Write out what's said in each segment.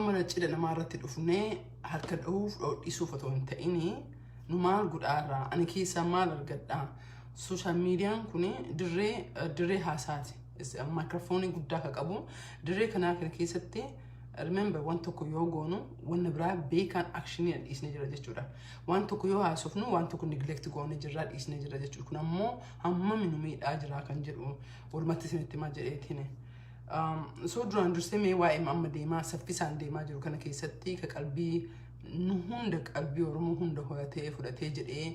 Mana cidha namaa irratti dhufnee harka dhahuuf dhoodhisuuf otoo hin ta'in nu maal godhaa irraa ani keessaa maal argadhaa sooshaal miidiyaan kun dirree dirree haasaati maayikiroofoonii guddaa akka qabu dirree kanaa kana keessatti remember waan tokko yoo goonu wanna biraa beekaan akshinii dhiisnee jira jechuudha waan tokko yoo haasofnu waan tokko neglect goone jirraa dhiisnee jira jechuudha kun ammoo hammami nu miidhaa jiraa kan jedhu walumatti isinitti himaa jedheetiin. Soo duraan dursee mee waa'ee amma deemaa saffisaan deemaa jiru kana keessatti ka qalbii nu hunda qalbii Oromoo hunda horatee fudhatee jedhee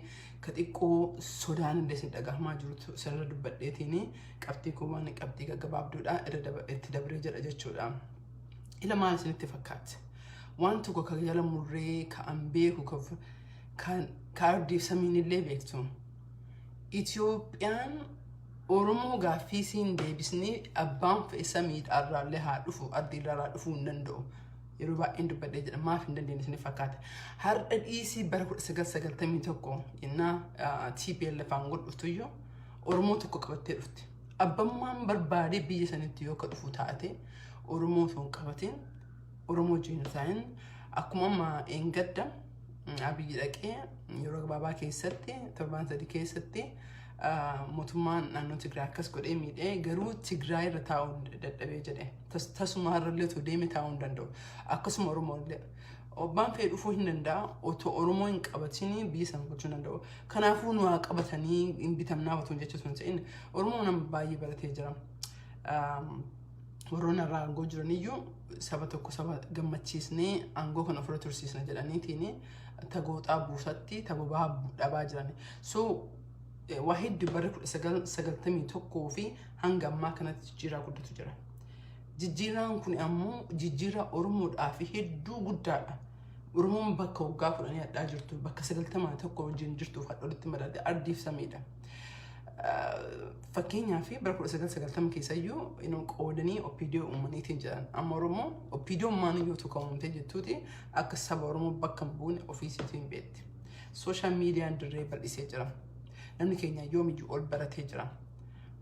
ka xiqqoo sodaan illee isin dhagahamaa jirutu isinirra dubbadheetiin qabxii koo waan qabxii gaggabaabduudha irra daba- itti dabree jedha jechuudha. Ila maal isinitti fakkaatti? Waan tokko ka jala murree ka an beeku ka- kan ka ardiif samiin illee beektu. Itoophiyaan Oromoo gaaffii isiin deebisnee abbaan fe'e samiidhaa irraallee haa dhufu ardii irraa dhufuu hin danda'u. Yeroo baay'een dubbadhee jedha maaf hin dandeenye isin fakkaata. Har'a dhiisii bara 1991 jennaa TPLF aangoo dhuftuyyuu Oromoo tokko qabattee dhufte. Abbammaan barbaadee biyya sanitti yoo ka dhufu taate Oromoo osoo hin qabatin Oromoo Jeenosaayin akkuma amma eengadda abiyyi dhaqee yeroo gabaabaa keessatti torbaan sadii keessatti mootummaan naannoo Tigraay akkas godhee miidhee garuu Tigraay irra taa'uu dadhabee jedhe tasumaa irrallee otoo deeme taa'uu hin danda'u akkasuma Oromoo illee obbaan fee dhufuu hin danda'a otoo Oromoo hin qabatinii biyya san gochuu danda'u kanaafuu nu haa qabatanii hin bitamnaa otoo jecha sun ta'in Oromoo nama baay'ee baratee jira. warroonni irraa aangoo jiraniyyuu saba tokko saba gammachiisnee aangoo kana ofirra tursiisna jedhaniitiin tagooxaa buusatti tabobaa dhabaa jiran. So waa hedduu barri kudha sagal sagaltamii tokkoo fi hanga ammaa kanatti jijjiiraa guddatu jira. Jijjiiraan kun ammoo jijjiiraa Oromoodhaa fi hedduu guddaadha. Oromoon bakka waggaa kudhanii hadhaa jirtu bakka sagaltamaa tokko wajjin jirtuuf hadhoolitti madaalde ardiif samiidha. Fakkeenyaa fi bara 1990 keessa iyyuu inuu qoodanii opiidiyoo uumaniitiin jiran. Amma Oromoo opiidiyoo maanii yoo tokko uumtee jettuuti akka saba Oromoo bakka hin buune ofiisiitu hin beekti. Sooshaal miidiyaan dirree bal'isee jira. Namni keenya yoomiyyuu ol baratee jira.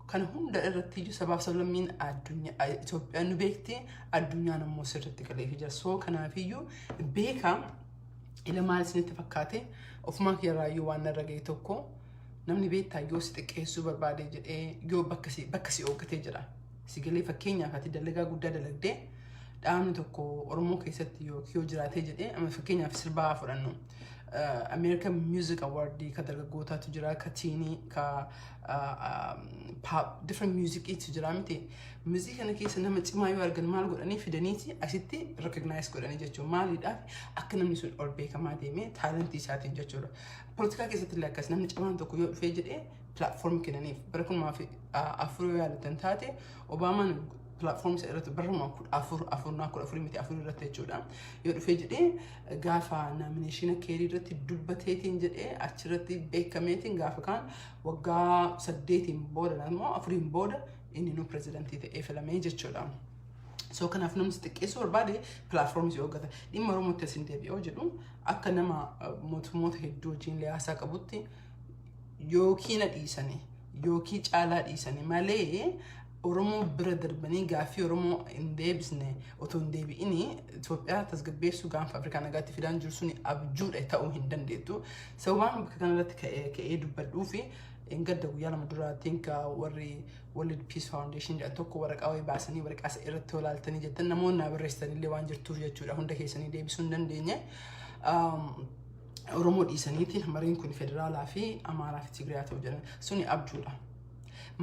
Kana hunda irratti iyyuu sabaaf sablammiin addunyaa Itoophiyaan nu beekti addunyaan immoo sirriitti galeefii jira. Soo kanaafiyyuu beekaa Ila maal isinitti fakkaate ofumaa kiyyarraayyuu waan narra ga'e tokko namni beektaa yoo si xiqqeessuu barbaade jedhee yoo bakka si bakka si ooggatee jira. Si galee fakkeenyaaf ati dalagaa guddaa dalagdee dhaabni tokko Oromoo keessatti yoo yoo jiraatee jedhee amma fakkeenyaaf sirbaa haa fudhannu. Uh, American Music Award ka dargaggootaatu jira ka tiinii ka uh, um, pop different music'iitu jira miti Mizii kana keessa nama cimaa yoo argan maal godhanii fidaniiti asitti recognize godhanii jechuudha. Maaliidhaaf akka namni sun ol beekamaa deemee taalantii isaatiin jechuudha. Poolitikaa keessatti illee akkas namni cimaan tokko yoo dhufee jedhee platform kennaniif bara kumaa fi afur yoo yaalatan taate Obaamaan platform isa irratti barruma kudha afur afurnaa kudha afurii miti afurii irratti jechuudha. Yoo dhufee jedhee gaafa naamineeshina keerii irratti dubbateetiin jedhee achirratti beekameetiin gaafa kaan waggaa saddeetiin booda immoo afuriin booda Inni nu pirezidantii ta'ee filamee jechuudha. So kanaaf namni xiqqeessuu barbaade pilaatfoormii yoo gata dhimma Oromootti isin deebi'oo jedhu akka nama mootummoota hedduu wajjin liyaasaa qabutti yookiin na dhiisanii yookiin caalaa dhiisanii malee Oromoo bira darbanii gaaffii Oromoo hin deebisne otoo hin deebi'ini Itoophiyaa tasgabbeessuu gaanfa Afrikaa nagaatti fidaan jiru suni abjuudha ta'uu hin dandeettu. Sababaan bakka kanarratti ka'ee dubbadhuu fi Engadda guyyaa lama dura tinka warri World Peace Foundation jedhan tokko waraqaa wayii baasanii waraqaa isa irratti yoo laaltanii jettan namoonni naa barreessitan illee waan jirtuuf jechuudha hunda keessanii deebisuu hin dandeenye. Oromoo dhiisaniiti mariin kun federaalaa fi Amaaraa fi Tigiriyaa ta'u jedhan suni abjuudha.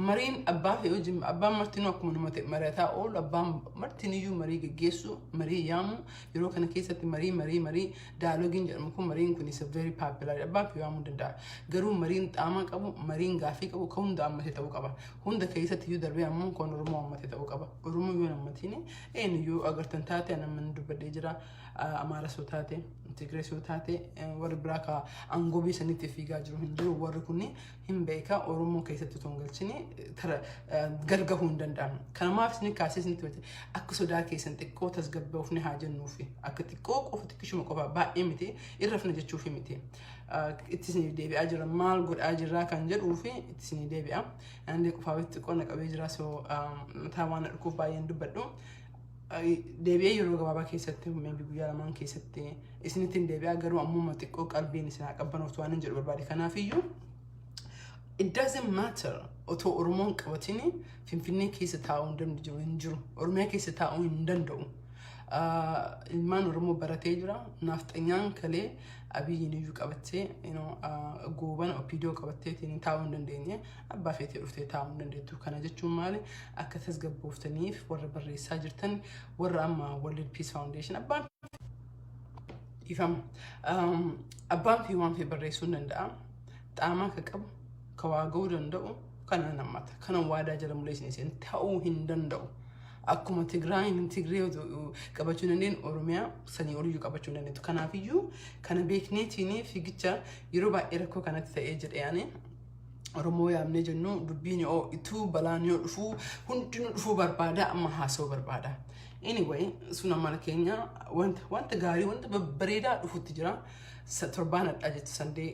Mariin abbaa fi hojii abbaan martinuu akkuma nama ta'e mari'ataa oolu abbaan martiniyyuu marii geggeessu marii yaamu yeroo kana keessatti marii marii marii Daalogiin jedhamu kun mariin kun isa very popular abbaan fi waamuu danda'a. Garuu mariin xaamaa qabu, mariin gaaffii qabu kan hunda ammatee ta'uu qaba. Hunda keessatti iyyuu darbee ammoo kan Oromoo ammatee ta'uu qaba. Oromoo yoo nammatiin eenyuyyuu agartan taate nama ni dubbadhee jira. Amaaras yoo taate, Tigirees yoo taate warri biraa ka aangoo biyya saniitti fiigaa jiru hin jiru. Warri kun hin beeka Oromoo keessatti otoo hin galchine tara gal gahuu hin danda'amu. Kana maaf isin kaasee isin tumate akka sodaa keessan xiqqoo tasgabbaa'uuf ni haa jennuufi akka xiqqoo qofa xiqqishuma qofa baay'ee miti irra fina jechuuf miti. Itti isin deebi'aa jira maal godhaa jirraa kan jedhuu fi itti isin deebi'a. Andee qofaa xiqqoo na qabee jira soo mataa waan na dhukkuuf baay'een dubbadhu. deebi'ee yeroo gabaabaa keessatti maybe guyyaa lamaan keessatti isinitti hin deebi'aa garuu ammuma xiqqoo qalbiin isin haa qabbanoftu waan hin jedhu barbaade kanaafiyyuu it doesn't matter otoo oromoon qabatin finfinnee keessa taa'uu hin danda'u hin jiru oromiyaa keessa taa'uu hin danda'u Ah, ilmaan oromoo baratee jira naafxanyaan kalee abiyyiin iyyuu qabattee you know, ah, goobana opiidoo qabatteetiin taa'uu hin dandeenye abbaa feetee dhuftee taa'uu dandeettu. Kana jechuun maali? Akka tasgabbooftaniif warra barreessaa jirtan warra amma World Peace Foundation abbaan dhiifama. Abbaan fi waan fi barreessuu hin danda'a. Xaamaa akka qabu, ka waa ga'uu danda'u kana nan hammata. Kana waadaa jala muleessin isin ta'uu hin danda'u. Akkuma Tigraayin Tigree qabachuu dandeen Oromiyaa sanii oliyyuu qabachuu dandeettu. Kanaafiyyuu kana beekneetiin fiigicha yeroo baay'ee rakkoo kanatti ta'ee jedhee ani Oromoo yaamnee jennu dubbiin yoo ituu balaan yoo dhufu hundinuu dhufuu barbaada amma haasoo barbaada. Anyway, sun amala keenya wanta wanta gaarii wanta babbareedaa dhufutti jira. Sa- Torbaan addaa jettu sandee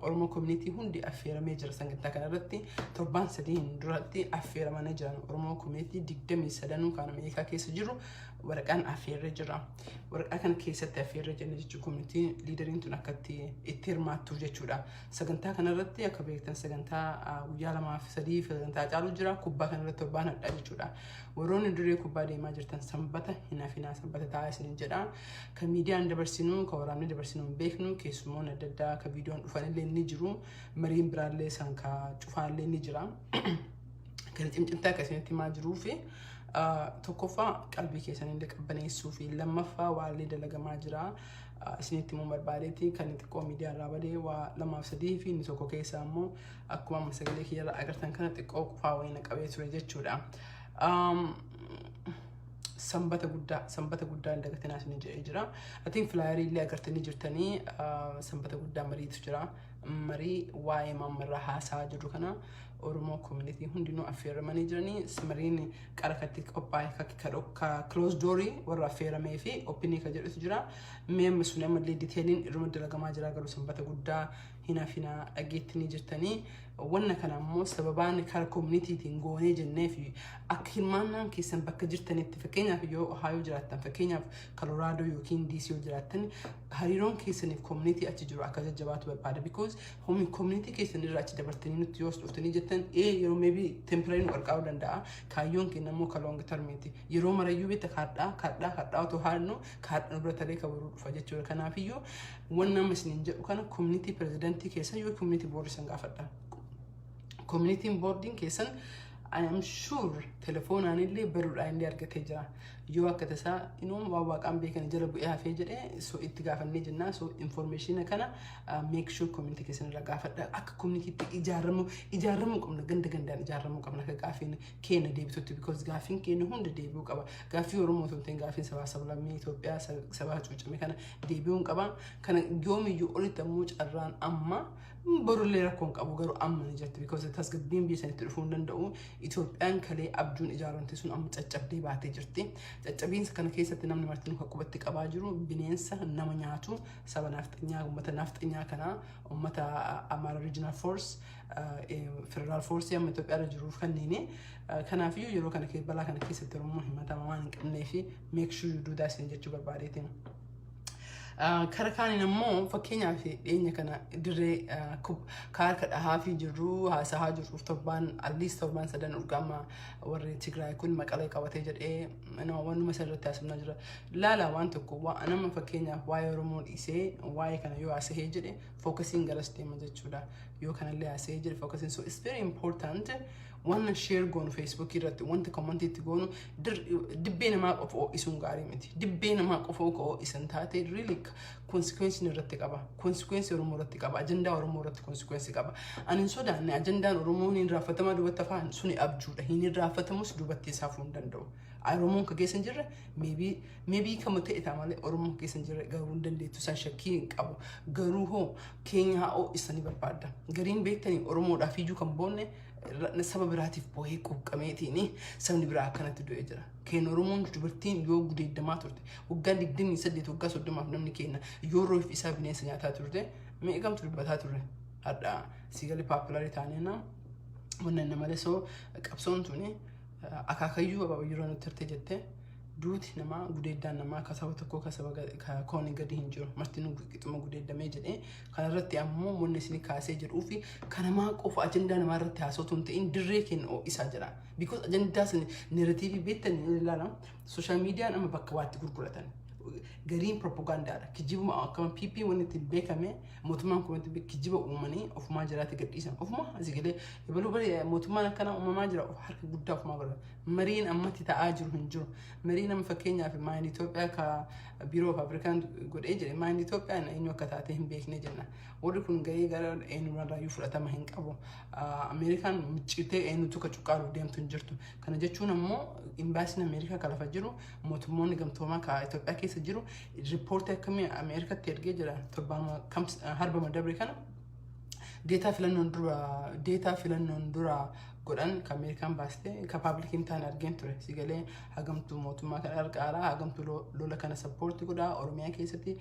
Oromoo koominiitii hundi affeeramee jira sagantaa kana irratti torbaan sadiin duratti affeeramanii jiran Oromoo koominiitii digdamii sadanuu kan Ameerikaa keessa jiru waraqaan affeerree jira. Waraqaa kana keessatti affeerree jenna jechuun koominiitiin liidariin tun akkatti itti hirmaattuuf jechuudha. Sagantaa kanarratti akka beektan sagantaa guyyaa lamaa fi sadii fi sagantaa caalu jira. Kubbaa kanarratti torbaan hadhaa jechuudha. Warroonni dirree kubbaa deemaa jirtan sanbata hin hafinaa sanbata taa'aa isiniin jedha. Kan miidiyaan dabarsinu kan waraanni dabarsinu hin beeknu keessumoon adda addaa akka viidiyoon dhufanillee ni jiru. Mariin biraallee isaan ka cufaanillee ni jira. Kan cimcimtaa akka isinitti himaa jiruu fi tokkoffaa qalbii keessanillee qabbaneessuu fi lammaffaa waallee dalagamaa jira. isinitti himuun barbaadeetti kan inni xiqqoo miidiyaa irraa badee waa lamaaf sadii fi inni tokko keessaa immoo akkuma amma sagalee kiyya irraa agartan kana xiqqoo qufaa wayii na qabee ture jechuudha. Sanbata guddaa sanbata guddaa hin dagatinaa isin jedhee jira. Atiin filaayarii illee agartanii jirtanii sanbata guddaa mariitu jira. Marii waa'ee maammarraa haasaa jiru kana Oromoo community hundinuu affeeramanii jiranii simariin qara katti qophaa'e kakki ka dhokka close doorii warra affeeramee fi openii ka jedhutu jira mee amma sun ammallee diteeliin irruma dalagamaa jira garuu sanbata guddaa hin hafinaa dhageettanii jirtanii wanna kana ammoo sababaan kara communitytiin goonee jennee fi akka hirmaannaan keessan bakka jirtanitti fakkeenyaaf yoo ohaayoo jiraattan fakkeenyaaf kaloraadoo yookiin diisii yoo jiraattan hariiroon keessaniif community achi jiru akka jajjabaatu barbaada because Home community keessan irraa achi dabartanii nutti yoo as dhuftanii jettan ee yeroo maybe temporary nu qarqaaruu danda'a. Kaayyoon keenya immoo ka long term ti. Yeroo marayyuu beekta kaadhaa kaadhaa kaadhaa otoo haadnu kaadha nu bira talee ka boruu dhufa jechuudha. Kanaafiyyuu waan nama isiniin jedhu kana community presidentii keessan yoo community board isin gaafadha. Community boardiin keessan I am sure telefoonaan illee baruudhaan illee argatee jira. Yoo akka tasaa inuu waan waaqaan beekan jala bu'ee hafee jedhee so itti gaafannee jennaa so information kana make sure community keessan irraa gaafadha akka community itti ijaaramu ijaaramu qabna ganda gandaan ijaaramu qabna akka gaafiin keenya deebitutti because gaafiin keenya hunda deebi'uu qaba gaafii oromoo osoo hin ta'in gaafiin sabaa sablammii Itoophiyaa sabaa hacuucame kana deebi'uun qaba kana yoomiyyuu olitti ammoo carraan amma borullee rakkoon qabu garuu amma ni jirti because tasgabbiin biyya sanitti dhufuu hin danda'u Itoophiyaan kalee abjuun ijaaramte sun amma caccabdee baatee jirti caccabiinsa kana keessatti namni marti nuka qubatti qabaa jiru bineensa nama nyaatu saba naafxanyaa uummata naafxanyaa kanaa uummata Amara Regional Force Federal Force amma Itoophiyaa irra jiruuf kanneen kanaafiyyuu yeroo kana keessa balaa kana keessatti Oromoo himatamaa waan hin qabnee fi make sure you do that sin jechuu barbaadeeti. Kara kaaniin ammoo fakkeenyaaf dhiyeenya kana dirree kaarka dhahaa fi jirru haasahaa jirruuf torbaan alliis torbaan sadan urgaama warri Tigraay kun maqalee qabatee jedhee wanuma isa irratti haasofnaa jira. Laala waan tokko waa nama fakkeenyaaf waa'ee Oromoo dhiisee waa'ee kana yoo haasa'ee jedhe fookasiin garas deema jechuudha. Yoo kanallee haasa'ee jedhe fookasiin so it's very important wanna share goonu feesbuukii irratti wanta koomantii itti goonu dibbee namaa qofa ho'isuun gaarii miti. Dibbee namaa qofa akka ho'isan taate really konsikweensiin irratti qaba. Konsikweensi Oromoo irratti qaba. Ajandaa Oromoo irratti konsikweensi qaba. Ani hin sodaanne ajandaan Oromoo hin irraanfatamaa duubatti hafaa suni abjuudha. Hin irraanfatamus duubatti isaa hafuu hin danda'u. Oromoon ka keessa hin jirre meebii meebii kama ta'e ta'a malee Oromoon keessa hin jirre garuu hin dandeettu san shakkii hin qabu garuu hoo keenya haa'oo isanii barbaadda gariin beektanii Oromoodhaaf iyyuu kan boonne ra- saba biraatiif boohee quuqqameetiini sabni biraa akkanatti du'ee jira keenya Oromoon dubartiin yoo gudeeddamaa turte waggaa 28 waggaa 30 namni keenya yoo roof isaa bineensa nyaataa turte meeqamtu dubbataa turre hadhaa siigalee paappilarii taanee na manna nama lesoo qabsoon tuni akaakayyuu abaa'u yeroo nutti hirte jette duuti namaa gudeeddaan namaa akka saba tokkoo akka saba ga- ka- kooni gadi hin jiru marti nu qixuma gudeeddamee jedhee kanarratti ammoo wanni isin kaasee jedhuu fi kan namaa qofa ajandaa namaa irratti haasootu hin ta'in dirree keenya ho'isaa jira because ajandaa isin neeratiivii beektan hin ilaala sooshaal miidiyaan amma bakka waatti gurguratan gariin propagaandaadha kijibuma akkama pp wanni ittiin beekame mootummaan kun wanti beek- kijiba uumanii ofumaa jiraatti gadhiisan ofumaa asii galee Hebaluu bari mootummaan akkanaa uumamaa jira of harka guddaa ofumaa godha. Mariin ammatti ta'aa jiru hin jiru. Mariin amma fakkeenyaaf maayin Itoophiyaa ka biiroo of Afrikaan godhee jedhe maayin Itoophiyaan eenyu akka taate hin beekne jenna. Warri kun gahee gara eenyurraayyuu fudhatama hin qabu. Ameerikaan miccitee eenyutu ka cuqqaaluuf deemtu hin jirtu. Kana jechuun ammoo imbaasiin Ameerikaa ka lafa jiru mootummoonni gamtoomaa ka Itoophiyaa keessa jiru riippoortii akkamii Ameerikatti ergee jira torbaan harbama dabre kana deetaa filannoon dura deetaa filannoon dura godhan kan Ameerikaan baaste kan paablikiin ta'an argeen ture sigalee hagamtuu mootummaa kan argaaraa hagamtuu lo- lola kana sappoorti godhaa Oromiyaa keessatti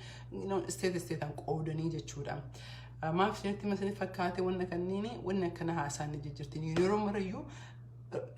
isteet isteetaan qoodanii jechuudha. Ah, Maaf isinitti masanii fakkaate wanna kanniini wanni akkana haasaan ni jijjirtiin yeroo marayyuu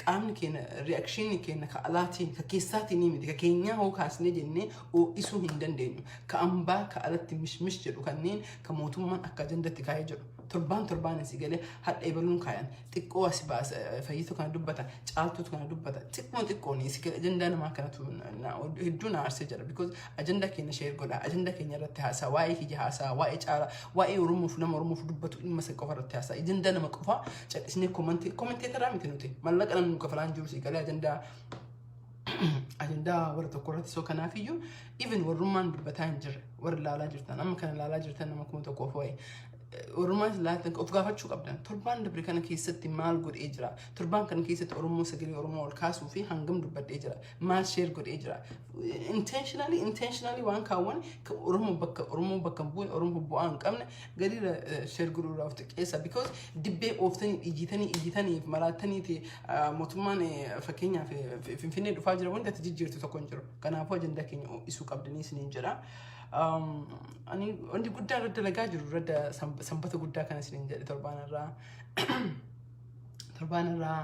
qaamni keenya reakshinii keenya ka alaatiin ka keessaatiin ni miti ka keenyaa hoo kaasnee jennee oo'isuu hin dandeenyu ka ambaa ka alatti mishmish jedhu kanneen ka mootummaan akka ajandatti kaa'ee jedhu torbaan torbaan si galee hadha ebaluun kaayan xiqqoo as baasa fayyitu kana dubbata caaltuutu kana dubbata xiqquma xiqqoon si galee ajandaa namaa kanatu na- na- hedduu na aarsee jira because Ajanda keenya sheer godha. Ajanda keenya irratti haasaa. Waa'ee kiyya haasaa. Waa'ee caalaa. Waa'ee Oromoof nama Oromoof dubbatu dhimma san qofa irratti haasaa. Ajanda nama qofa cadhisnee komantii komanteetaraa miti nuti. Mallaqa namni nu kafalaan jiru si galee ajandaa ajandaa warra tokko irratti soo kanaaf iyyuu even warrummaan dubbataa hin jirre warri laalaa jirtan amma kana laalaa jirtan nama kuma tokkoof waa'ee Oromoonis laatan of gaafachuu qabdan. Torbaan dabre kana keessatti maal godhee jira? Torbaan kana keessatti Oromoo sagalee Oromoo ol kaasuu fi hangam dubbadhee jira? maal sheer godhee jira intentionally intentionally waan kaawwan kan oromoo bakka oromoo bakka hin buune oromoo bu'aa hin qabne gadiirra sheer godhuu irraa of xiqqeessa because dibbee ooftanii dhiyyitanii iyyitanii fi maraattaniiti ah, mootummaan eh, fakkeenyaaf eh, fi- finfinnee dhufaa jira wanti ati jijjiirtu tokko hin jiru kanaafuu ajandaa keenya ho'isuu qabdanii isiniin jedha Um, ani wanti guddaa irra dalagaa jiru irra da- sanb- sanbata guddaa kana isiniin jedhe torbaan irraa torbaan irraa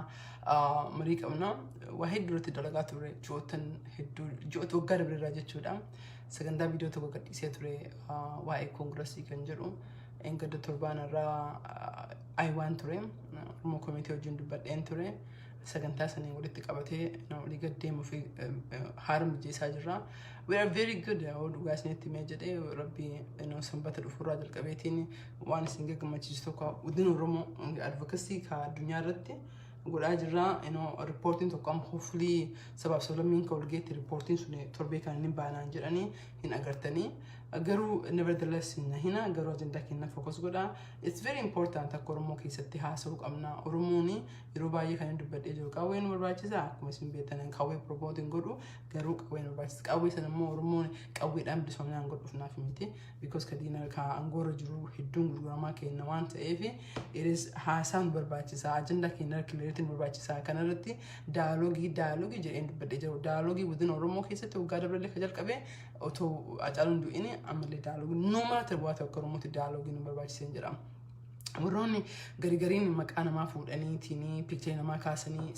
ah, marii qabna. Waa hedduu irratti dalagaa ture ji'ootan hedduu ji'oota waggaa dabre irraa jechuudha. Sagantaa viidiyoo tokko gadhiisee ture ah, waa'ee koongirasii kan jedhu engadda torbaan irraa ayiwaan ture Oromoo komiitii wajjin dubbadheen ture. Sagantaa sanii walitti qabatee na olii gad deemuu fi eh, eh, haara mijeessaa jirra. We are very good yoo dhugaa isinitti mee jedhee rabbi eh, sanbata dhufuurraa jalqabeetiin waan isin gammachiisu tokko guddina Oromoo advokasii ka addunyaa irratti godhaa jirra. Riippoortiin tokko amma hofulii sabaaf sablammiin ka walgeetti riippoortiin sun torbee kan inni baanaan jedhanii hin agartanii. Garuu nevertheless hin hina garuu ajandaa keenya fookas godha. It's very important akka Oromoo keessatti haasa'uu qabna. Oromoon yeroo baay'ee kan inni dubbadhee jiru qawwee nu barbaachisa akkuma isin beektan qawwee promote hin godhu garuu qawwee nu barbaachisa. Qawwee sana immoo Oromoon qawweedhaan bilisoominaan godhuuf naaf miti. because ka diina ka angoorra jiru hedduun gurguramaa kenna waan ta'eef iris haasaan barbaachisaa ajanda keenya kileeritiin barbaachisaa kanarratti daaloogii daaloogii jedheen dubbadhee jiru daaloogii within oromoo keessatti waggaa dabalee ka jalqabe otoo acaaluun du'ini ammallee daaloogii numaa ta'e waa tokko oromootti daaloogii nu barbaachiseen jedhama. warroonni garigariin maqaa namaa fuudhaniitiin piikcharii namaa kaasanii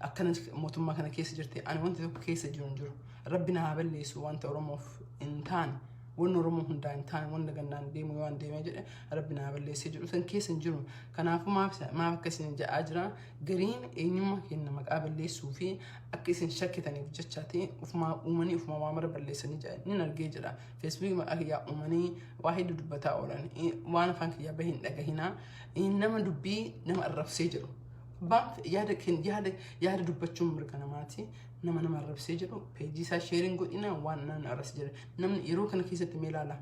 akkana mootummaa kana keessa jirti ani wanti tokko keessa jiru hin jiru. Rabbi na haa balleessu wanta Oromoof hin taane wanni Oromoo hundaa hin taane wanna gannaan deemu yoo an deemee jedhe Rabbi na haa balleessee jedhu san keessa hin jiru. Kanaafuu maaf isa- maaf akka isin ja'aa jira gariin eenyummaa keenya maqaa balleessuu fi akka isin shakkitaniif jecha ta'e ufumaa uumanii ufumaa waa mara balleessanii jedha nin argee jedha feesbuukii maqaa kiyyaa uumanii waa hedduu dubbataa oolan Eh, waan afaan kiyyaa bahe hin dhagahinaa Eh, nama dubbii nama arrabsee jedhu Abbaan yaada keen- yaada yaada dubbachuun mirga namaati. nama nama arrabsee jedhu peejii isaa sheeriin godhina waan namni arras jedhe namni yeroo kana keessatti mee ilaala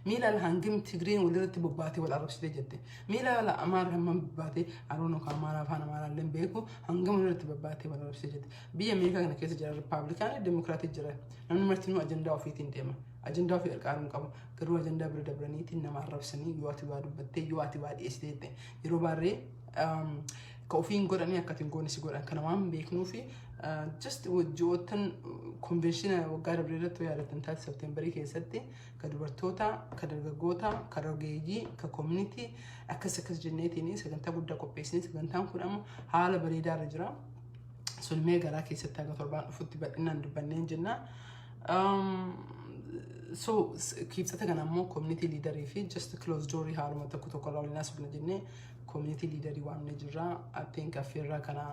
mee ilaala hangam tigreen walirratti bobbaatee wal arrabsitee jette mee ilaala amaara hammam bobbaatee aroon okaa amaara afaan amaaraa illee beeku hangam walirratti bobbaatee wal arrabsitee jette biyya ameerikaa kana keessa jira ripaabilikaanii demookiraatii jira namni martinuu ajandaa ofiitiin deema ajandaa ofii qarqaaruun qabu garuu ajandaa bira dabraniitiin nama arrabsanii yoo ati waa dubbattee yoo ati waa dhiyeessitee jette yeroo baarree Ka ofii hin godhanii akka ati hin goone si godhan kana waan beeknuufi just ji'oottan konveenshina waggaa dabree irratti yaadatan taate septeembarii keessatti ka dubartoota ka dargaggoota ka rogeeyyii ka koominitii akkas akkas jenneetiin sagantaa guddaa qopheessinee sagantaan kun amma haala bareedaa irra jira. Sun mee garaa keessatti haga torbaan dhufutti bal'inaan dubbanneen jenna. so kiibsata kana ammoo community leader fi just close door haaluma tokko tokko irraa waliin haasofna jennee Community leader waamne jirra. Appeen kaffeerraa kana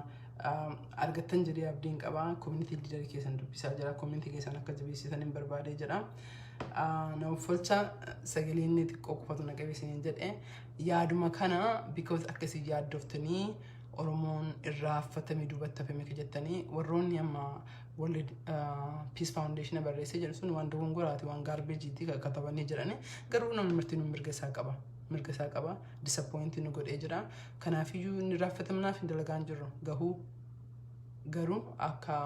argattan jedhee abdiin qaba. Community leader keessan dubbisaa jira. Community keessan akka jabeessitan hin barbaadee jedha. Nama folcha sagalee inni xiqqoo qofatu na qabe isiniin jedhe. Yaaduma kana because akka isin yaaddoftanii Oromoon irraa affatame duubatti hafame akka jettanii warroonni amma World Peace Foundation barreessee jedhu sun waan dogongoraati waan gaarbeejiitti katabanii jedhani garuu namni marti nu mirga isaa qaba. mirga isaa qaba disappointi nu godhee jira kanaafiyyuu inni raaffatamnaaf hin dalagaan jirru gahuu garuu akka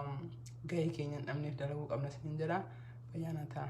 gahee keenya hin dhabneef dalaguu qabna sin jedha fayyaanaa ta'a.